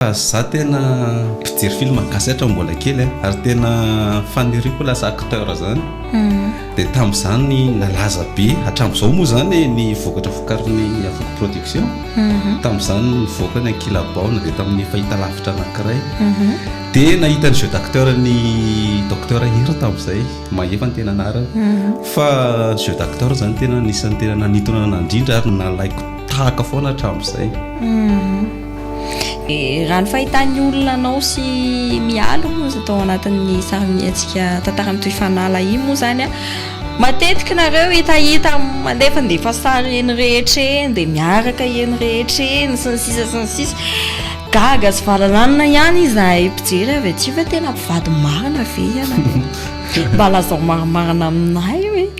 Fa za tena mpijery film gasy hatram mbola kely a, ary tena faniriako lasa acteur zany, dia tamzany nalaza be, hatramzao moa zany ny vokatra vokarin'ny Avoko production, tamzany nivoaka ny Ankilabaona dia tamin'ny fahitalavitra anakiray, dia nahita ny jeu d'acteur ny Docteur Hery tamzay, Mahefa ny tena anarany, fa ny jeu d'acteur zany tena anisan'ny tena nanintona anah indrindra ary nalaiko tahaka foana hatramzay. Dia raha ny fahitan'ny olona anao sy Mialy moa izay tao anatin'ny sarimihetsika Tantara mitohy fanala iny moa izany an, matetika nareo hitahita mandefandefa sary eny rehetra eny dia miaraka eny rehetra eny sy ny sisa sy ny sisa. Gaga sy valalanina ihany izahay mpijery avy aty fa tena mpivady marina ve ianareo? Mba lazao marimarina aminay hoe.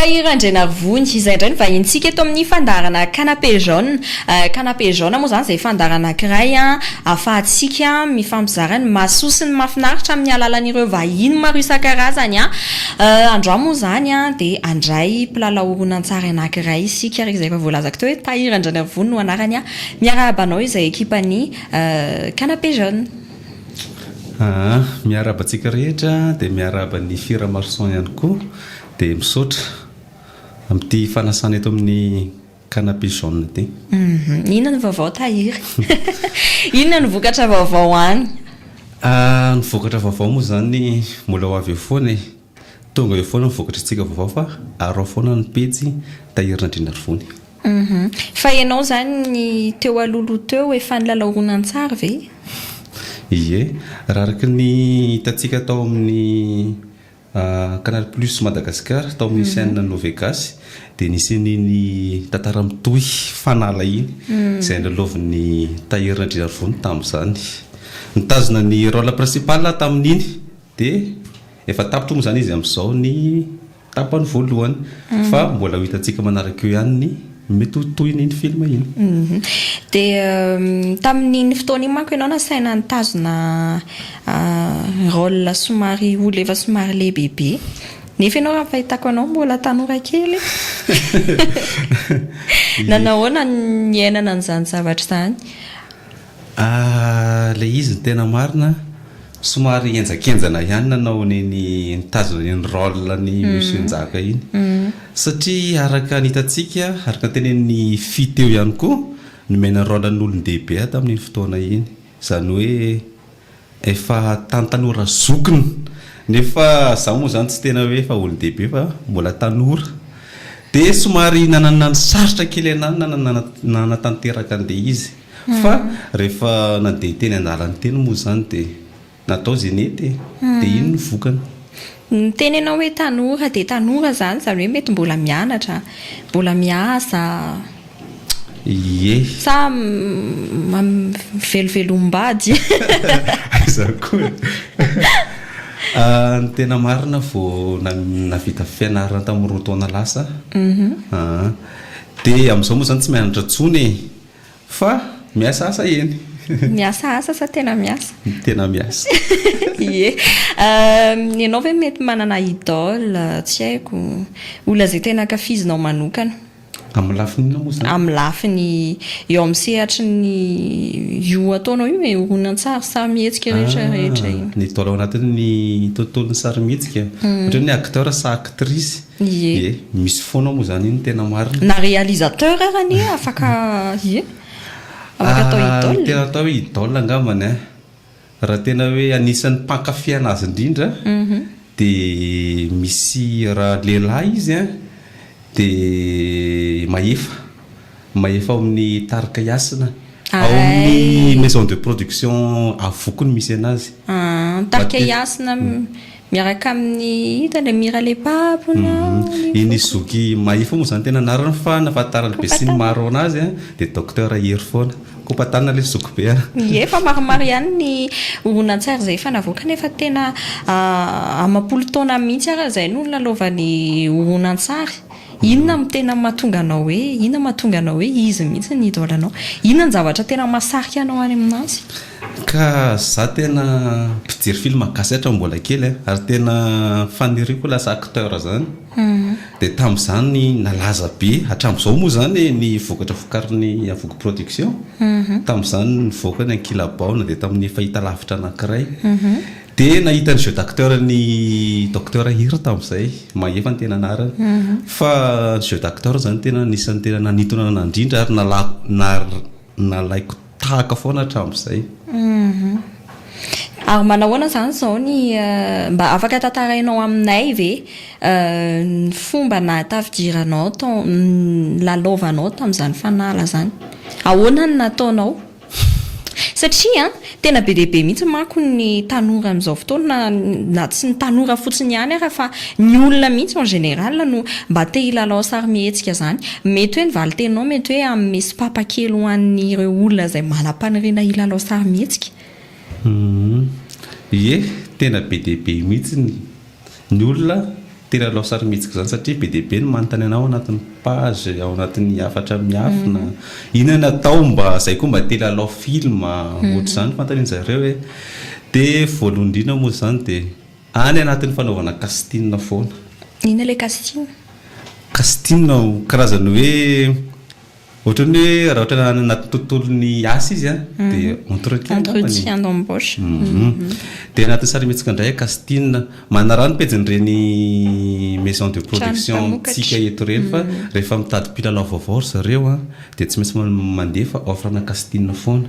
Tahiry Andrianarivony, izay indray no vahinintsika eto amin'ny fandaharana Canapé Jaune. Canapé Jaune moa izany izay fandaharana anankiray ahafahantsika mifampizara ny mahasoa sy ny mahafinaritra amin'ny alalan'ireo vahiny maro isan-karazany. Androany moa izany dia handray mpilalao horonantsary anankiray isika ary izay efa voalazako teo hoe Tahiry Andrianarivony no anarany. Miarahaba anao izay ekipan'ny Canapé Jaune. Aa miarahaba antsika rehetra dia miarahaba an'i Fira Marson ihany koa dia misaotra amin'ity fanasana eto amin'ny canapé jaune ity. Inona ny vaovao Tahiry? Inona ny vokatra vaovao any? Ny vokatra vaovao moa izany mbola ho avy eo foana e! Tonga eo foana ny vokatry tsika vaovao fa arao foana ny pejy Tahiry Nandrianarivony. Humm. Fa ianao izany ny teo aloha loha teo efa nilalao horonantsary ve? Ie. Raha araka ny hitantsika tao amin'ny Canal Plus Madagascar tao amin'ny chaîne Novegasy dia nisy an'iny tantara mitohy fanala iny izay nilalaovin'i Tahiry Nandrianarivony tamin'izany. Nitazona ny rôle principal aho tamin'iny. Dia efa tapitra moa izany izy amin'izao ny tapany voalohany. Fa mbola ho hitantsika manaraka eo ihany ny mety ho tohin'iny film iny. Dia tamin'iny fotoana iny manko ianao nasaina nitazona rôle somary olona efa somary lehibebe. Nefa ianao raha ny fahitako anao mbola tanora kely. Nanao ahoana ny niainana an'izany zavatra izany? Ah le izy no tena marina, somary henjakenjana ihany nanao an'iny nitazona an'iny rôle ny Monsieur Njaka iny satria araka ny hitantsika, araka ny tenenin'i Fy teo ihany koa, nomena rôle an'olon-dehibe aho tamin'iny fotoana iny, izany hoe. Efa tany tanora zokiny nefa zaho moa zany tsy tena hoe efa olon-dehibe fa mbola tanora dia somary nanana ny sarotra kely anah ny nanatanteraka an'ilay izy fa rehefa nandeha teny an-dalana teny moa izany dia natao izay nety e, dia iny ny vokany. Ny miteny ianao hoe tanora dia tanora izany, izany hoe mety mbola mianatra, mbola miasa, Ie. sa mivelovelom-bady. Aiza koa e! Ny tena marina vao nahavita fianarana tamin'ny roa taona lasa aho. Dia amin'izao moa izany tsy mianatra intsony e! Fa miasa asa eny. Miasa asa sa tena miasa? Tena miasa. Ie. Ianao ve mety manana idole, tsy haiko, olona izay tena ankafizinao manokana? Amin'ny lafiny inona moa izany? Amin'ny lafiny eo amin'ny sehatry ny io ataonao io e, horonantsary, sarimihetsika rehetra rehetra iny. Ah, ny idole ao anatin'ny tontolon'ny sarimihetsika. Ohatra hoe ny acteur sa actrice. Ie. Misy foana moa izany iny tena marina. Na réalisateur ary anie afaka ie. Afaka atao idole. Ny tena atao hoe idole angambany an, raha tena hoe anisan'ny mpankafy anazy indrindra dia misy raha lehilahy izy an, dia Mahefa. Mahefa ao amin'ny tarika Hasina. Ao amin'ny maison de production Avoko no misy anazy. Ny tarika Hasina miaraka amin'ny ito ilay Mira Lepa mpona ny. Iny zoky Mahefa moa izany tena anarany fa ny ahafantaran'ny besinimaro anazy dia Docteur Hery foana. Kopatanana ilay zoky be an. Ie, fa maromaro ihany ny horonantsary izay efa navoakany efa tena amam-polo taona mihitsy ary izay no nilalaovany horonantsary. Inona no tena mahatonga anao hoe, inona mahatonga anao hoe izy mihitsy no idole anao? Inona no zavatra tena mahasarika anao any aminazy? Ka za tena mpijery film gasy hatram mbola kely a, ary tena faniriako lasa acteur zany, dia tamzany nalaza be, hatramzao moa zany ny vokatra vokarin'ny Avoky production, tamzany nivoaka ny Ankilabaona dia tamin'ny fahitalavitra anakiray, Dia nahita ny jeu d'acteur ny Docteur Hery tamin'izay, Mahefa ny tena anarany. Fa ny jeu d'acteur izany tena anisan'ny tena nanintona ahy indrindra ary nalako nar- nalaiko tahaka foana hatramin'izay. Ary manahoana izany izao ny mba afaka tantarainao aminay ve ny fomba nahatafidiranao tao ny nilalaovanao tamin'izany fanala izany? Ahoana no nataonao? Satria tena be dia be mihitsy manko ny tanora amin'izao fotoana, na tsy ny tanora fotsiny ihany ary fa ny olona mihitsy en général no mba te hilalao sarimihetsika izany. Mety hoe ny valinteninao mety hoe hanome sopapa kely ho an'ireo olona izay manam-paniriana hilalao sarimihetsika. Ie, tena be dia be mihitsy ny. Ny olona tery hanao sarimihetsika izany satria be dia be ny manontany anao ao anatin'ny page, ao anatin'ny hafatra miafina, inona no atao mba izay koa mba te lalao film ohatr'izany fanontanian-jareo e! Dia voalohany indrindra moa izany dia any anatin'ny fanaovana casting foana. Inona ilay casting? Casting karazana hoe Ohatran'ny hoe raha ohatra any anaty tontolon'ny asa izy an, dia entretien angamba ny. Entretien d'embauche. Dia anatin'ny sarimihetsika indray Castine. Manaraha ny pejin'ireny maison de production-ntsika eto ireny fa rehefa mitady mpilalao vaovao ry zareo an, dia tsy maintsy mandefa offre ana Castine foana.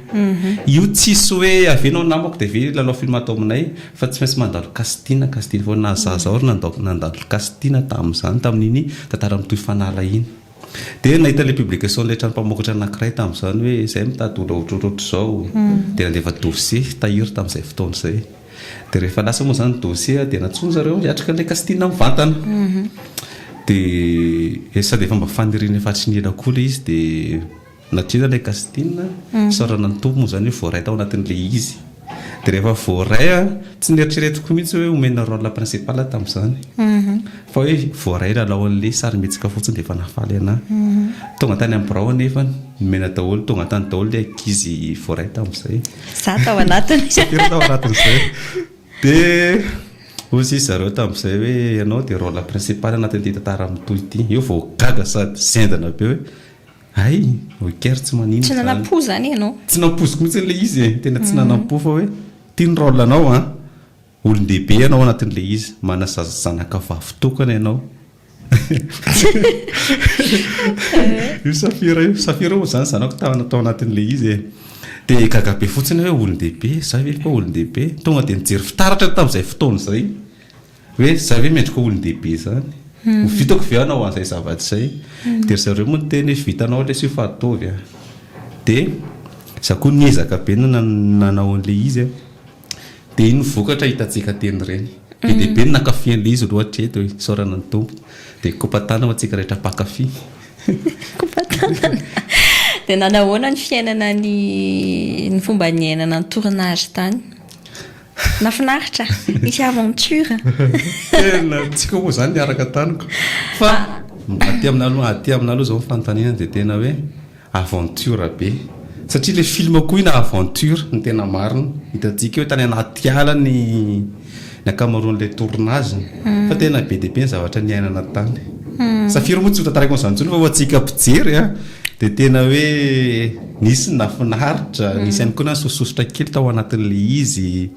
Io tsisy hoe avy eo ianao namako dia avy eo hilalao film ato aminay fa tsy maintsy mandalo Castine, Castine foana. Na izaho aza aho nandalo Castine tamin'izany, tamin'iny tantara mitohy fanala iny. Dia nahita ilay publication ilay trano mpamokatra anankiray tamin'izany hoe izay mitady olona ohatrohatr'izao. Dia nandefa dossier tahiry tamin'izay fotoana izay. Dia rehefa lasa moa izany ny dossier dia nantsoin-dry zareo hiatrika ilay casting mivantana. Dia sady efa mba faniriana efa hatry ny ela koa ilay izy dia. Na dia ilay Castina, Sorana ny Tompo, moa izany hoe voaray tao anatin'ilay izy, dia rehefa voaray an, tsy neritreretiko mihitsy hoe omena rôle la principale tamin'izany, fa hoe voaray lalao an'ilay sarimihetsika fotsiny dia efa nahafaly anah. Tonga tany amin'ny birao anefa, nomena daholo, tonga tany daholo ilay ankizy voaray tamin'izay. Izaho tao anatiny. Tsy ampy aho tao anatin'izay. Dia hoy ry zareo tamin'izay hoe ianao dia rôle principale anatin'ity tantara mitohy ity. Eo vao gaga sady zendana be hoe. Hay! ok ary tsy manino izany. Tsy nanam-po izany ianao. Tsy nampoiziko mihitsy ilay izy e! Tena tsy nanam-po fa hoe ity ny rôle anao an! Olon-dehibe ianao anatin'ilay izy, manasazy zanaka vavy tokana ianao. Io Safira io, Safira moa izany zanako tao tao anatin'ilay izy e! Dia gaga be fotsiny aho hoe olon-dehibe, izaho ve koa olon-dehibe? Tonga dia nijery fitaratra tamin'izay fotoana izay. Hoe za ve mendrika ho olon-dehibe zany? Ho vitako ve hanao an'izay zavatra izay? Dia ry zareo moa niteny hoe vitanao lesy io fa ataovy a! Dia za koa niezaka be ny nanao an'ilay izy a! Dia iny vokatra hitantsika teny ireny. Be dia be ny nankafy an'ilay izy aloha hatreto e! Isaorana ny Tompo. Dia kopa-tanana ho antsika rehetra mpankafy. Kopa-tanana. Dia nanahoana ny fiainana ny ny fomba niainana ny tournage tany? Nafinaritra, misy aventure. Tena tsika moa zany niaraka taniko. Fa aty amina aloha, aty amina aloha zao ny fanontaniana dia tena hoe aventure be. Satria ilay film koa ina aventure ny tena marina. Hitantsika hoe tany anaty ala ny ny ankamaroan'ilay tournage. Hmm. Fa tena be dia be ny zavatra niainana tany. Hmm. Safiry moa tsy ho tantarako an'izany intsony fa ho antsika mpijery a dia tena hoe Nisy ny nahafinaritra, nisy ihany koa ny nahasososotra kely tao anatin'ilay izy.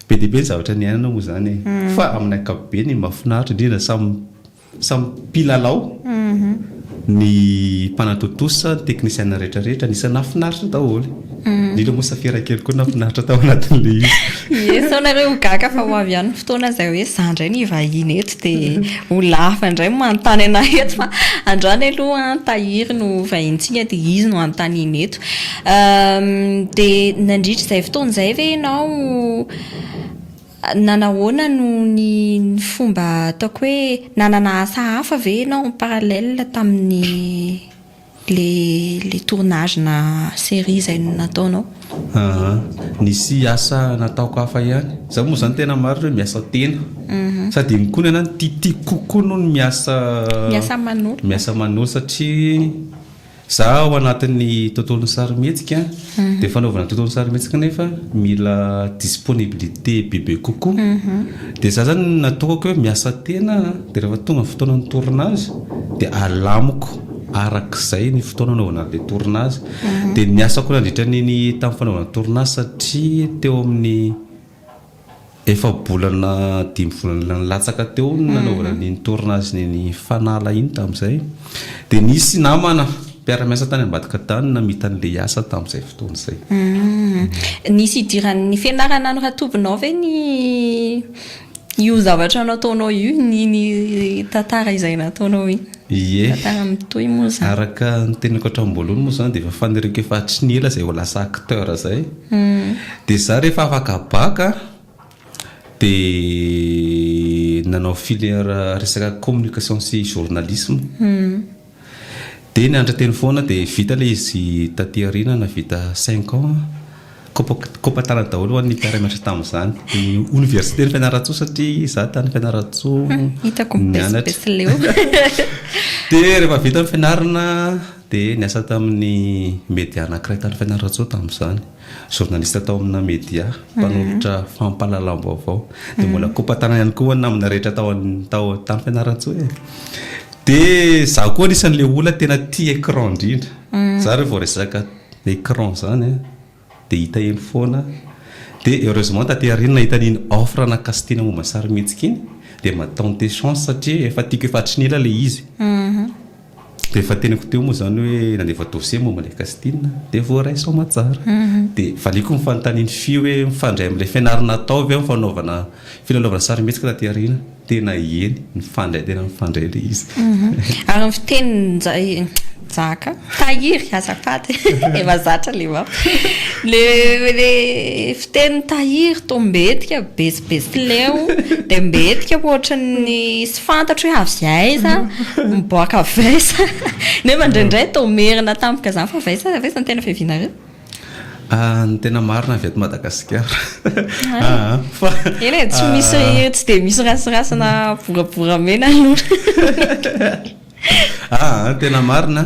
Be dia be ny zavatra niainana moa izany e. Fa amin'ny ankapobeny, ny mahafinaritra indrindra, samy samy mpilalao, ny mpanatontosa, ny teknisiana rehetrarehetra, anisan'ny nahafinaritra daholo. Indrindra moa Safira kely koa nahafinaritra tao anatin'ilay izy. Ie sao nareo ho gaga fa ho avy ihany ny fotoana izay hoe za indray no hivahiny eto. Dia ho lava indray ny manontany anà eto fa androany aloha an, tahiry no vahinintsika dia izy no anontaniana eto. Dia nandritra izay fotoana izay ve ianao nanahoana no ny ny fomba ataoko hoe nanana asa hafa ve ianao en parallèle tamin'ny. Le le tournage na serie zay nataonao. Aa nisy asa nataoko hafa ihany. Za moa zany tena marina hoe miasa tena. Sady iny koa ny anah no titiko kokoa noho ny miasa Miasa aman'olona. miasa aman'olona satria za ao anatin'ny tontolon'ny sarimihetsika. Dia fanaovana tuto ny sarimihetsika anefa mila disponibilité bebe kokoa. Dia za zany natokako hoe miasa tena a, dia rehefa tonga ny fotoanan'ny tournage dia alamiko arak'izay ny fotoana anaovana an'ilay tournage. Dia ny asako nandritra ny tamin'ny fanaovana tournage satria teo amin'ny. Efa-bolana dimy volana nilatsaka teo no nanaovana an'iny tournage neny Fanala iny tamin'izay. Dia nisy namana mpiara-miasa tany ambadika tany namita an'ilay asa tamin'izay fotoana izay. Nisy idiran'ny fianarana an'i Ratobinao ve ny io zavatra nataonao io, iny tantara izay nataonao iny? Ie, araka ny teniko hatramim-boalohany moa izany dia efa faniriako efa hatry ny ela izay ho lasa acteur izay. Dia izaho rehefa afaka bac a, dia nanao filière resaka communication sy journalisme. Dia nianatra teny foana dia vita ilay izy taty aoriana nahavita cinq ans. Kopataratra daholo ho an'ny mpiara-mianatra tamin'izany. Dia oniversiten'i Fianarantsoa satria izaho tany Fianarantsoa hmm, Hitako mibesibesy leo. Dia rehefa vita ny fianarana dia niasa tamin'ny media anankiray tany Fianarantsoa tamin'izany. Journaliste tao amina media, hmm. mpanolotra fampahalalam-baovao. Dia mbola hmm. kopatarana ihany koa namana rehetra tao tao tany Fianarantsoa e. Dia izaho koa anisan'ilay olona tena tia écran indrindra. Za rehefa vao resaka écran zany a dia hita eny foana dia heureusement taty aoriana nahita an'iny offre ana castina momba ny sarimihetsika iny dia mba tenter chance satria efa tiako efa hatry ny ela ilay izy dia efa teniko teo moa zany hoe nandefa dossier momba ilay castina dia voaray soamatsara dia valiako ny fanontanian'i Fy hoe mifandray amin'ilay fianarana atao ve ny fanaovana Filalaovana sarimihetsika taty aoriana, tena eny, nifandray tena nifandray ilay izy. Ary amin'ny fitenin'i Jaka, tahiry, azafady e, efa zatra ilay map. Ilay fitenin'i tahiry toa mbetika, besibesitleu, dia mbetika ohatran'ny tsy fantatro hoe avy aiza, miboaka avy aiza, nefa indraindray toa merina tampoka izany fa avy aiza, avy aiza ny tena fiavianareo? Ny tena marina avy eto Madagasikara. Eny e, tsy misy, tsy dia misy rasirasina boraboramena aloha. Aa, tena marina,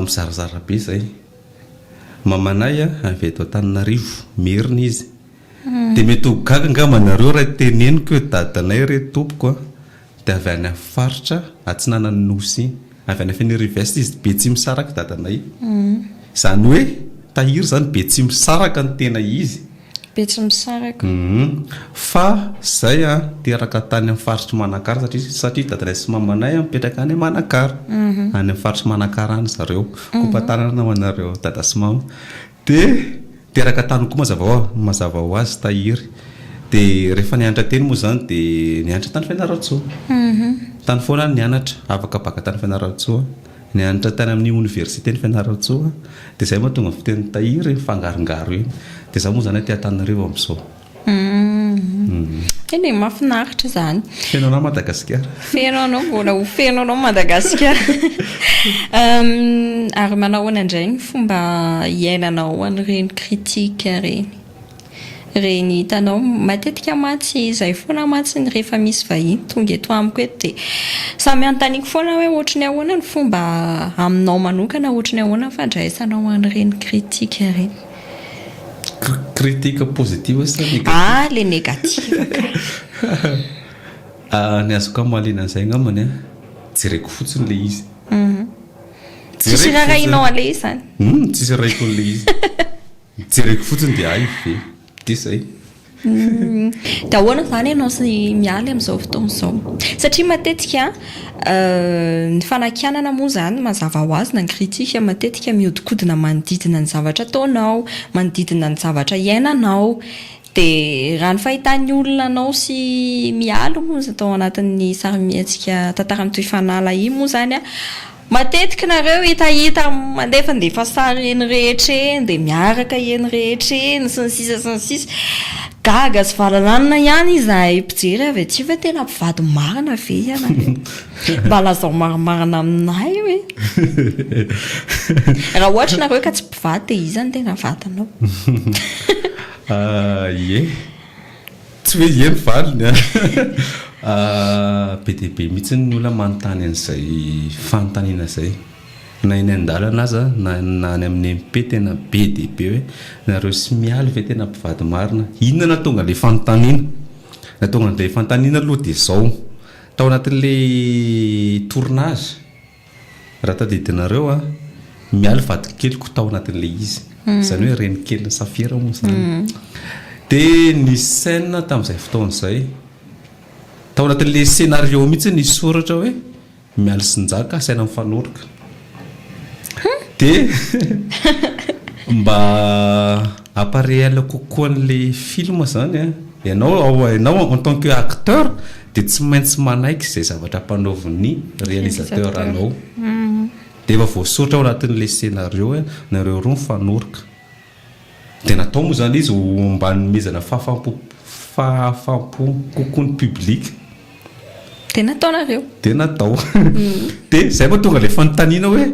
mizarazara be izay. Mamanay avy eto Antananarivo, Merina izy. Dia mety ho gaga angamba nareo raha teneniko hoe dadanay re tompoko an! Dia avy any faritra atsinanan'ny Nosy, avy any Fenerive-Est izy, Betsimisaraka i dadanay. Izany hoe tahiry izany Betsimisaraka no tena izy. Betsimisaraka. Fa izay teraka tany amin'ny faritr'i Manakara satria satria dadanay sy mamanay mipetraka any Manakara. Any amin'ny faritr'i Manakara any zareo. Kopa-tanana ho anareo dada sy mama. Dia teraka tany koa mazava hoa, mazava ho azy tahiry. Dia rehefa nianatra teny moa izany dia nianatra tany Fianarantsoa. Tany foana aho nianatra, afaka baka tany Fianarantsoa. Nianatra tany amin'ny oniversiten'i Fianarantsoa. Dia izay mahatonga ny fitenin'i tahiry mifangarongaro eny. Dia izaho moa izany aty Antananarivo amin'izao. Humm. Eny e, mahafinaritra izany. Feno anao Madagasikara. Feno anao, mbola ho feno anao Madagasikara. Humm, ary manao ahoana indray ny fomba hiainanao an'ireny critique ireny? Ireny hitanao, matetika mantsy izay foana mantsy ny rehefa misy vahiny tonga eto amiko eto dia samy anontaniako foana hoe ohatry ny ahoana ny fomba aminao manokana, ohatry ny ahoana ny fandraisanao an'ireny critique ireny? Critique positive sa negative? Ah le negative ka. Ah ny azoko hamaliana an'izay angambany an, jereko fotsiny ilay izy. Tsisy rarahinao an'ilay izy zany? Humm tsisy rarahiko an'ilay izy. Jereko fotsiny dia hay ve? Dia izay. Dia ahoana izany ianao sy i Mialy amin'izao fotoana izao? Satria matetika ny fanakianana moa izany mazava ho azy na ny critique matetika mihodinkodina manodidina ny zavatra ataonao, manodidina ny zavatra iainanao. Dia raha ny fahitan'ny olona anao sy i Mialy moa tao anatin'ny sarimihetsika Tantara mitohy fanahy lahia moa izany an! Matetiky nareo hitahita mandefandefa sary eny rehetra eny dia miaraka eny rehetra eny sy ny sisa sy ny sisa Gaga sy valalanina ihany izahay mpijery avy aty hoe tena mpivady marina ve ianareo? Mba lazao marimarina aminay hoe Raha ohatra nareo ka tsy mpivady dia iza no tena vadinao? Ahh ie. Tsy hoe ye ny valiny an! Be dia be mihitsy ny olona manontany an'izay fanontaniana izay. Na eny an-dalana aza, na any amin'ny MP tena be dia be hoe, nareo sy Mialy ve tena mpivady marina? Inona no nahatonga an'ilay fanontaniana? Ny nahatonga an'ilay fanontaniana aloha dia izao, tao anatin'ilay tournage, Raha tadidinareo a, Mialy vadikeliko tao anatin'ilay izy. Izany hoe renikelin'i Safira moa izany. Dia ny scène tamin'izay fotoana izay, tao anatin'ilay scenario mihitsy nisy soratra hoe Mialy sy Njaka asaina mifanoroka. Dia mba Apa réel kokoa anle film zany a, ianao ao ianao en tant que acteur dia tsy maintsy manaiky izay zavatra ampanaovin'ny réalisateur anao, dia efa voasoratra ao anatin'ilay scénario hoe nareo roa mifanoroka, dia natao moa zany izy ho mba hanomezana fahafam-po fahafam-po kokoa ny public, dia nataonareo, dia natao, dia izay vao tonga ilay fanontaniana hoe.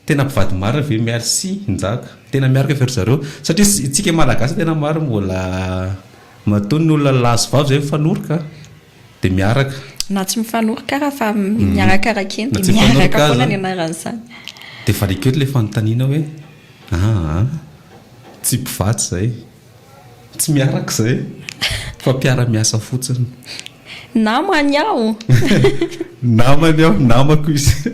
Tena mpivady marina ve merci njaka. Tena miaraka ve ry zareo? Satria isika malagasy tena marina mbola matoa ny olona lahy sy vavy zay mifanoroka dia miaraka. Na tsy mifanoroka ara fa miarakaraka eny dia miaraka foana ny anaran'izany. Dia variako eto ilay fanontaniana hoe, aa, tsy mpivady izay. Tsy miaraka izay fa mpiara-miasa fotsiny. Namany aho. Namany aho, namako izy.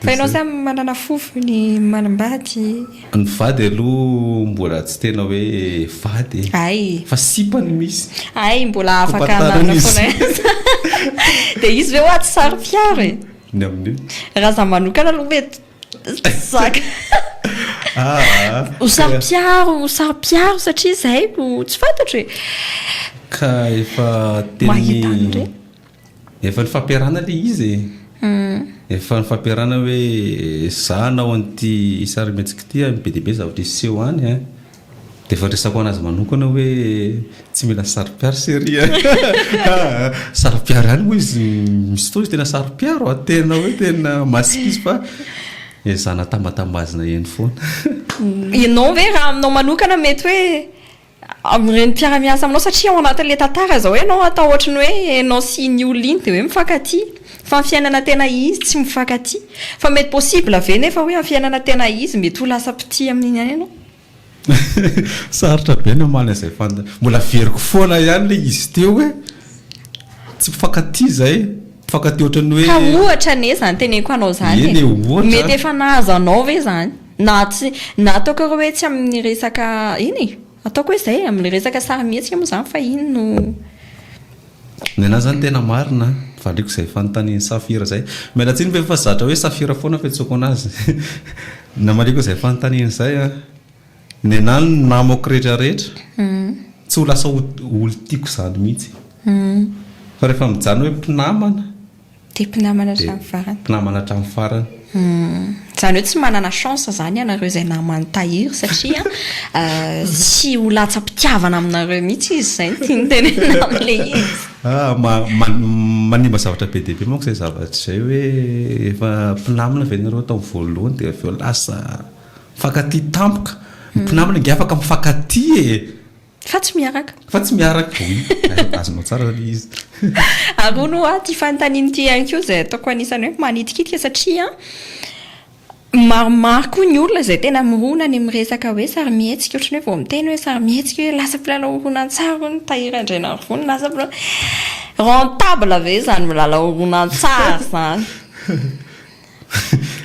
Fa ianao samy manana fofo ny manambady. Ny vady aloha mbola tsy tena hoe vady e. Hay. Fa sipa no misy. Hay, mbola afaka hanarina foana izy. Dia izy ve hoa tsy saro-piaro e? Ny amin'io? Raha izaho manokana aloha mety. Zaka. Ah, Ho saro-piaro, ho saro-piaro satria izay no tsy fantatro e. Ka efa Mahita an'ireny. tenin'ny efa nifampiarahana ilay izy e. Hmm. Efa nifampiarahana hoe za hanao an'ity sarimihetsika ity a, be dia be zavatra hiseho any a. Dia efa resako anazy manokana hoe tsy mila saro-piaro serie a! Saro-piaro ihany moa izy misy fotoana izy tena saro-piaro a! Tena hoe tena masika izy fa ezahana tambatambazina eny foana. Ianao ve raha aminao manokana mety hoe amin'ireny mpiara-miasa aminao satria ao anatin'ilay tantara izao ianao atao ohatran'ny hoe ianao sy iny olona iny dia hoe mifankatia fa ny fiainana tena izy tsy mifankatia. Fa mety possible ve nefa hoe amin'ny fiainana tena izy mety ho lasa mpitia amin'iny ihany ianao? Sarotra be ny hamaly an'izay fanontaniana. Mbola averiko foana ihany ilay izy teo hoe tsy mpifankatia izay, mpifankatia ohatran'ny hoe. Ka ohatra anie izany teneniko anao izany e. Eny e, ohatra. Mety efa nahazo anao ve izany? Na tsy, na ataoko ary hoe tsy amin'ny resaka, eny e, ataoko hoe izay e, amin'ny resaka sarimihetsika moa izany fa iny no. Nenah zany tena marina an! Valiako izay fanontanian'i Safira izay. Miala tsiny ve fa zatra hoe Safira foana fiantsoako anazy. Namaliako izay fanontaniana izay an! Nenah ny namako rehetra rehetra, tsy ho lasa olon-tiako izany mihitsy. Fa rehefa mijanona hoe mpinamana. Dia mpinamana hatramin'ny farany. Dia mpinamana hatramin'ny farany. Izany hoe tsy manana chance izany ianareo izay naman'i Tahiry satria tsy ho latsa-pitiavana aminareo mihitsy izy, izay no tiany tenenina amin'ilay izy. Ah, manimba zavatra be dia be manko izay zavatra izay hoe efa mpinamana ve ianareo tamin'ny voalohany dia avy eo lasa mifankatia tampoka. Ny mpinamana ange afaka mifankatia e! Fa tsy miaraka. Fa tsy miaraka. Oui, azonao tsara ilay izy. Ary hono hoa ity fanontaniana ity ihany koa izay ataoko anisan'ny hoe manitikitika satria maromaro koa ny olona izay tena mirona any amin'ny resaka hoe sarimihetsika. Ohatran'ny hoe vao miteny hoe sarimihetsika hoe lasa mpilalao horonantsary hono Tahiry Andrianarivony, lasa mpilalao. Rentable ve izany milalao horonantsary izany?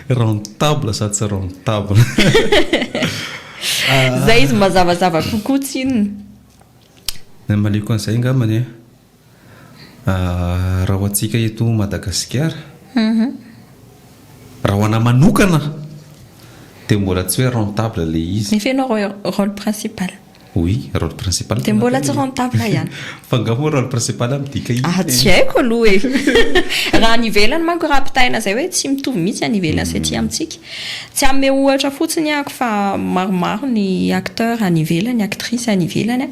Rentable sa tsy rentable? Izay izy mazavazava kokoa tsinona. Ny amaliako an'izay angambany a, raha ho antsika eto Madagasikara, raha ho anà manokana dia mbola tsy hoe rentable ilay izy. Ny feno rôle principal. Oui, rôle principal tena. Dia mbola tsy rentable ihany. Fa nga moa rôle principal midika inona e? Ah, tsy haiko aloha e. Raha any ivelany manko raha ampitahaina izay hoe tsy mitovy mihitsy any ivelany sy aty amintsika. Tsy hanome ohatra fotsiny aho fa maromaro ny acteurs any ivelany, actrices any ivelany,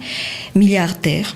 milliardaires.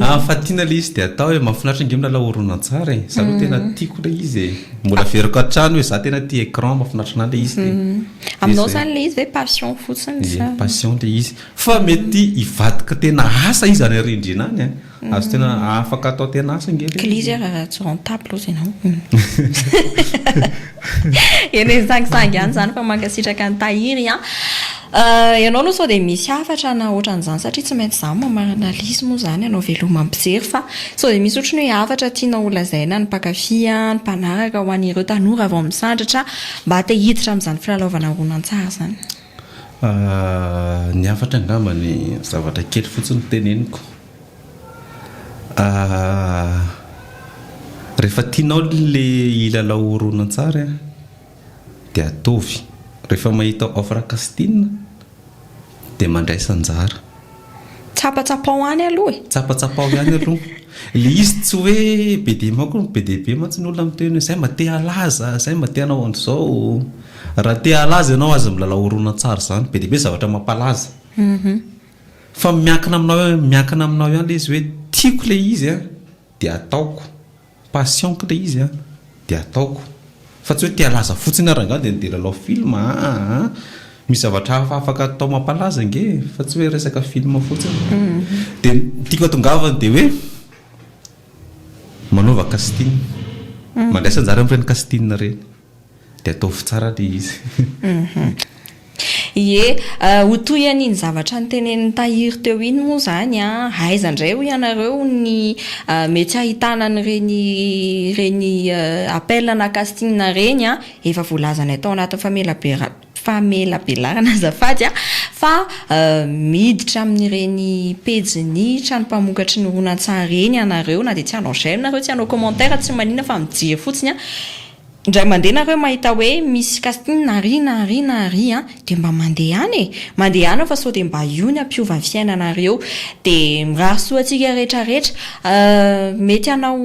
Ah fa tiana le izy de atao e, mahafinaritra ange milalao horonantsary e, za aloha tena tiako le izy e, mbola averiko hatrany hoe za tena tia écran, mahafinaritra anah le izy de. Aminao zany le izy ve passion fotsiny sa. Ie, passion le izy, fa mety hivadika tena asa izy any arindrina any an, azo tena afaka atao tena asa ange le izy. Kilizy ary rajorantable hozy ianao. Eny sangisangy ihany izany fa mankasitraka an'i Tahiry an! Ianao aloha sao dia misy hafatra na ohatran'izany satria tsy maintsy izaho mamarana analyse moa izany ianao veloma mijery fa sao dia misy ohatran'ny hoe hafatra tianao ho lazaina ny mpankafy, ny mpanaraka ho an'ireo tanora vao misandratra mba te hiditra amin'izany filalaovana horonantsary izany? Ny hafatra angamba ny zavatra kely fotsiny teneniko Rehefa tianao ilay hilalao horonantsary dia ataovy. Rehefa mahita offre casting dia mandraisa anjara. Tsapatsapao any aloha e! Tsapatsapao ihany aloha. Ilay izy tsy hoe be dia maro koa, be dia be mantsy ny olona miteny hoe izay mba te halaza, izay mba te hanao an'izao. Raha te halaza ianao aza milalao horonantsary izany, be dia be ny zavatra mampalaza. Fa miankina aminao miankina aminao ihany le izy hoe tiako le izy a de ataoko, passion-ko le izy a de ataoko fa tsy hoe te halaza fotsiny aho rangah de ndeha lalao film aa aa misy zavatra hafa afaka atao mampalaza ange e fa tsy hoe resaka film fotsiny de ny tiako atongavana de hoe manaova casting mandraisa anjara amin'ireny casting ireny Dia ataovy tsara ilay izy. Ie, ho toy an'iny zavatra notenenin'i Tahiry teo iny moa izany an, aiza indray hoy ianareo ny mety hahitana an'ireny ireny appel na casting ireny an, efa voalazanay tao anatin'ny famelabera-. famelabelarana azafady a, fa miditra amin'ireny pejin'ny trano mpamokatry ny horonantsary ireny ianareo na dia tsy hanao j'aime nareo tsy hanao commentaire tsy manina fa mijery fotsiny a, indray mandeha nareo mahita hoe misy casting na ry na ry na ry a, dia mba mandehana e, mandehana fa sao dia mba io ny hampiova ny fiainanareo, dia mirary soa antsika rehetra rehetra, mety hanao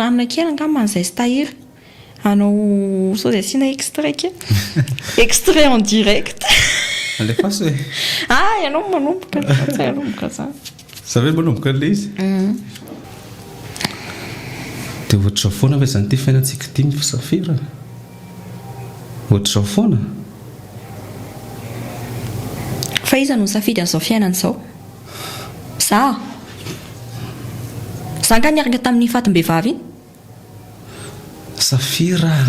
hanina kely angamba an'i Zaistahiry. Anao sao dia asiana extrait kely. Extrait en direct. Alefaso e. Ah ianao no manomboka. Tsy hanomboka za. Za ve manomboka an'ilay izy? Dia ohatr'izao foana ve izany ity fiainantsika ity misafiry a? Ohatr'izao foana? Fa iza no nisafidy an'izao fiainana izao? Za? Za angaha niaraka tamin'iny fatim-behivavy iny? Safira,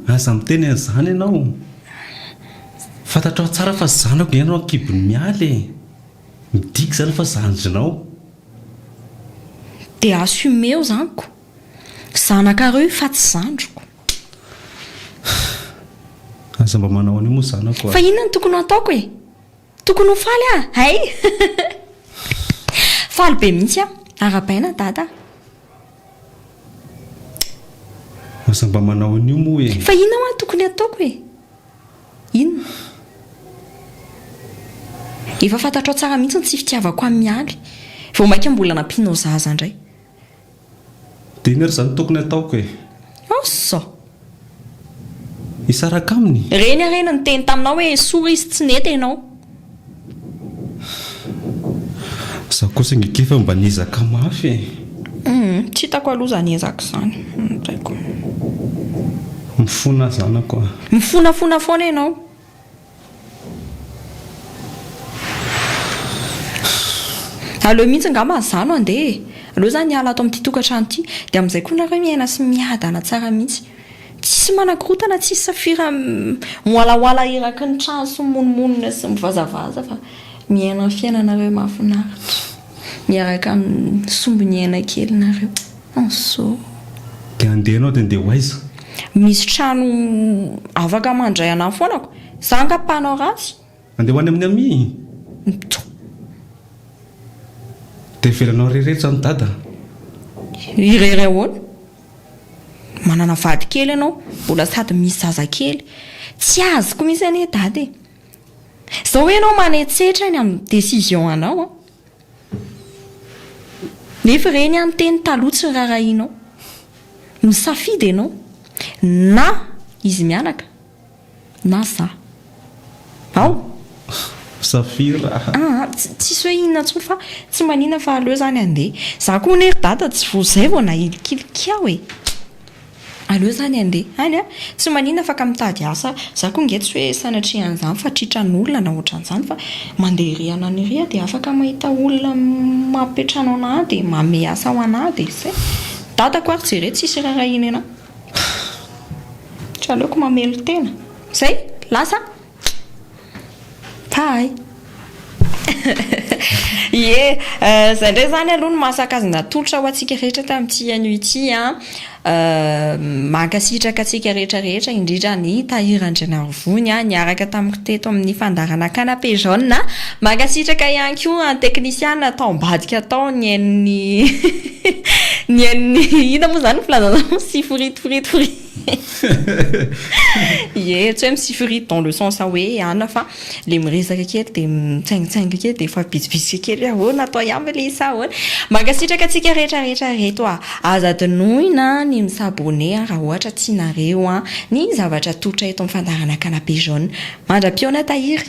aza miteny an'izany ianao. Fantatrao tsara fa zanako ve ianao an-kibon'i Mialy e! Midika izany fa zandrinao. Dia assumer-o izany ko! Zanakareo io fa tsy zandriko. Aza mba manao an'io moa zanako a! Fa inona no tokony hataoko e? Tokony ho faly aho hay! Faly be mihitsy aho! Arabaina Dada a! Aza mba manao an'io moa e! Fa inona hoa tokony hataoko e? Inona? Efa fantatrao tsara mihitsy ny tsy fitiavako an'i Mialy. Vao mainka mbola nampianao zaza indray. Demeure zany tokony ataoko e. Asa! Hisaraka aminy? Reny ary no niteny taminao hoe sory izy tsy nety enao. Za kosa nge keffa mba niezaka mafy e. Humm, tsy hitako aloha zany ezaka zany. Tsy haiko. Mifona zanako a. Mifonafona foana enao. Aleo mihitsy angamba izaho no handeha e! Aleo izaho miala ato amin'ity tokantrano ity, dia amin'izay koa nareo miaina sy miadana tsara mihitsy. Tsisy manakorontana, tsisy safira mihoalahoala eraky ny trano sy mimonomonona sy mivazavaza fa miaina ny fiainanareo mahafinaritra miaraka amin'ny sombin'ny aina kelinareo. Hazoa. Dia andeha ianao dia andeha ho aiza? Misy trano afaka mandray anà foana ko. Za angaha mpanao ratsy? Andeha ho any amin'i Amy? Mitoha. Dia avelanao irery eto izany Dada? Irery ahoana? Manana vady kely ianao, mbola sady misy zazakely. Tsy azoko mihitsy anie Dada e. Izao hoe ianao manetsetra ny amin'ny décision anao an! Nefa ireny an teny taloha tsy rarahianao. Misafidy ianao, na izy mianaka na za. Ao! Saphir a! Ah ah, tsisy hoe inona intsony fa tsy manina fa aleo izany handeha. Za koa anie ry dada tsy vao izay vao nahilikilika aho e! Aleo zany andeha any a! Tsy manina fa ka mitady asa a! Za ko nge tsy hoe sanatria an'izany fa tritran olona na otran'izany fa mandeha ery anany ery a dia afaka mahita olona mampiantrano anah dia mamehy asa ho anah dia zay! Dadako ary jere tsisy raharahiany anah! Tsy aleoko mamelon-tena! Zay! Lasa a! Tahay. Ie, izay indray izany aloha no maha sazy natolotra ho antsika rehetra tamin'ity anio ity an! Mankasitraka antsika rehetra rehetra indrindra an'i Tahiry Andrianarivony an! Niaraka tamiko teto amin'ny fandaharana canapé jaune an! Mankasitraka ihany koa an'i teknisiana tao ambadika tao nihaino ny hihihihi nihaino ny inona moa izany ny filazanao? Siforitiforitifori. Ie, tsy hoe mi-siffrit dans le sens hoe ana fa ilay miresaka kely dia mitsaingitsaingy kely dia efa vitsivitsika kely hoe ahoana atao ihany ve ilay izy sa ahoana. Mankasitraka antsika rehetra rehetra ireto a! Aza adinoina ny mi-s'abonner raha ohatra tianareo ny zavatra atolotra eto amin'ny fandaharanakanabe jaune. Mandra-pihaona tahiry.